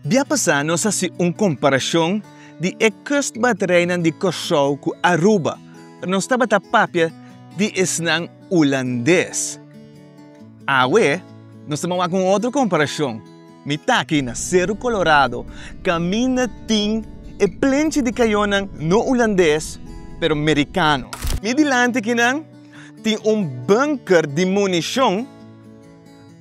Bia pasá nos a hasi un komparashon di e kustbatereinan di Kòrsou ku Aruba, pa nos tabata papia di esnan ulandes. Awe, nos ta ban wak un otro komparashon. Mi ta aki na Seru Kolorado kaminda tin e plenchi di kayonan no ulandes, pero merikano. Mi dilanti kinan tin un bunker di munishon.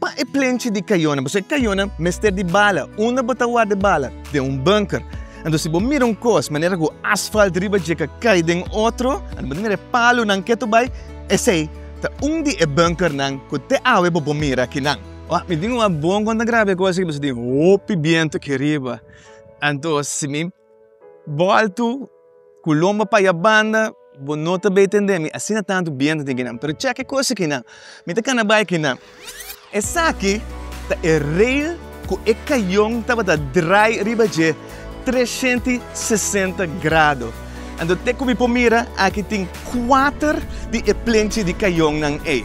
Pa e plenchi di kayonan, bo sa e kayonan mester di bala. Unda bo ta warda e bala? Den un bunker. Anto si bo mira un kos manera ku asfalt riba dje ka kai den otro, anto bo ta mira e palunan ketu bai, esei ta un di e bunkernan ku te awe bo por mira kinan. Wak, mi tin un abon kon ta graba e kos aki, bo sa tin hopi bientu aki riba. Anto si mi Bòltu ku lomba pa ya banda bo no ta bei tende mi asina tantu bientu tin kinan pero chèk e kosa kinan mi ta kana bai kinan esaki ta e rei ku e kayon tabata drai riba dje treshenti sesenta grado anto te ku mi por mira aki tin kuater di e plenchi di kayon nan ei.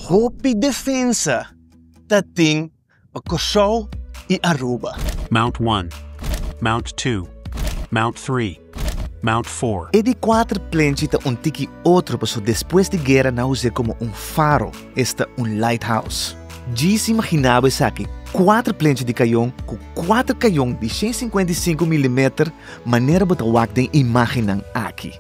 Hopi defensa. ta tin pa Kòrsou i Aruba. Mount one, Mount two, Mount three, Mount four. E di kuater plenchi ta un tiki otro paso despues di guera nan us'e komo un faro, esta un lighthouse. Djis imaginabo esaki, kuater plenchi di kayon ku kuater kayon di shen sinkuenta i sinku milimeter manera bo ta wak den imagennan aki.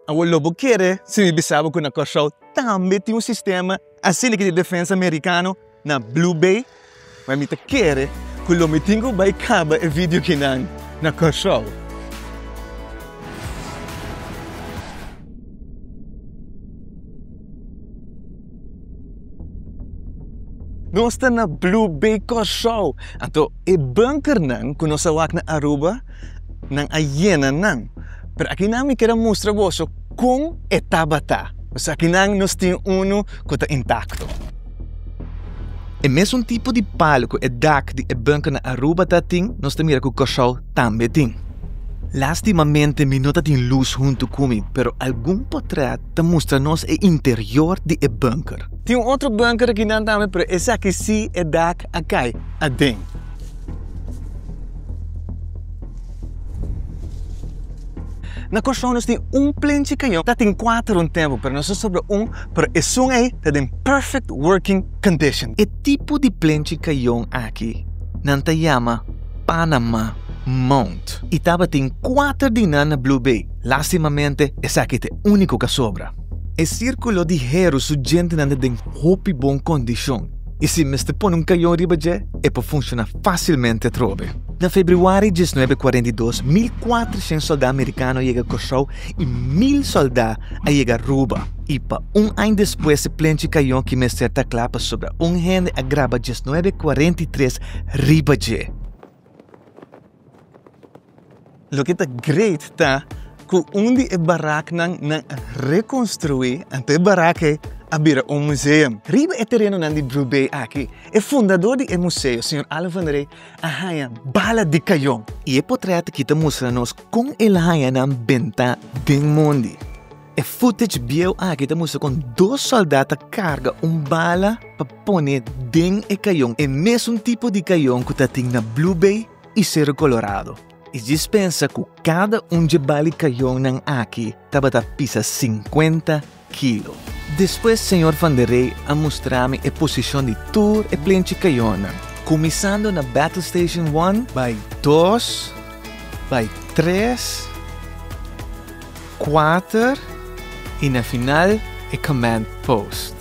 Awo lo bo kere si mi bisa bo ku na Kòrsou tambe tin un sistema asi lika di Defensa Merikano na Blue Bay? Wèl, mi ta kere ku lo mi tin ku bai kaba e video kinan na Kòrsou. Nos ta na Blue Bay Kòrsou, anto e bunkernan ku nos a wak na Aruba, nan a yena nan. Pero akinan mi keda mustra boso kon e tabata. Pues akinan nos tin unu ku ta intakto. E mesun tipo di palu ku e dak di e bunker na Aruba ta tin, nos ta mira ku Kòrsou tambe tin. Lastimamente mi no ta tin lus huntu ku mi, pero algun potrèt ta mustra nos e interior di e bunker. Tin un otro bunker akinan tambe, pero esaki si e dak a kai aden. Na Kòrsou nos tin un plenchi kayon, ta tin kuater un tempu, pero nos a sobra un, pero esun ei ta den perfect working condition. E tipo di plenchi kayon aki nan ta yama Panama Mount, i tabatin kuater di nan na Blue Bay. Lastimamente, esaki ta e úniko ku a sobra. E sírkulo di Heru su djentenan ta den hopi bon kondishon i si mester pone un kayon riba dje, e por funshoná fásilmente atrobe. Na februari diesnuebe kuarenta i dos, mil kuatrashent sòldá amerikano a yega Kòrsou i mil sòldá a yega Aruba. I pa un aña despues se plenchi kayon ki mester ta kla pasobra un hende a graba diesnuebe kuarenta i tres riba dje. Loke ta great ta ku un di e baraknan nan a rekonstruí anto e barak ei a bira un museum. Riba e terenonan di Blue Bay aki, e fundadó di e museo, señor Allen van der Rey, a haña bala di kayon. I e potrèt aki ta mustra nos kon el a haña nan bentá den mondi. E footage bieu aki ta mustra kon dos sòldat ta karga un bala pa pone den e kayon, e mesun tipo di kayon ku ta tin na Blue Bay i Cerro Colorado. E djis pensa ku kada un dje bali kayonnan aki tabata pisa sinkuenta kilo. Despues señor Van der Rey a mustra mi e posishon di tur e plenchi kayonnan, kuminsando na Battle Station one, bay dos, bay tres, Kuater i na final e command post.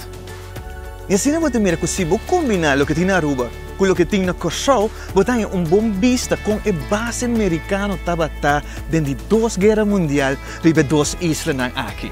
I asina bo ta mira ku si bo kombiná loke tin na Aruba ku loke tin na Kòrsou, bo ta haña un bon bista kon e base merikano tabata den di dos guera mundial riba e dos islanan aki.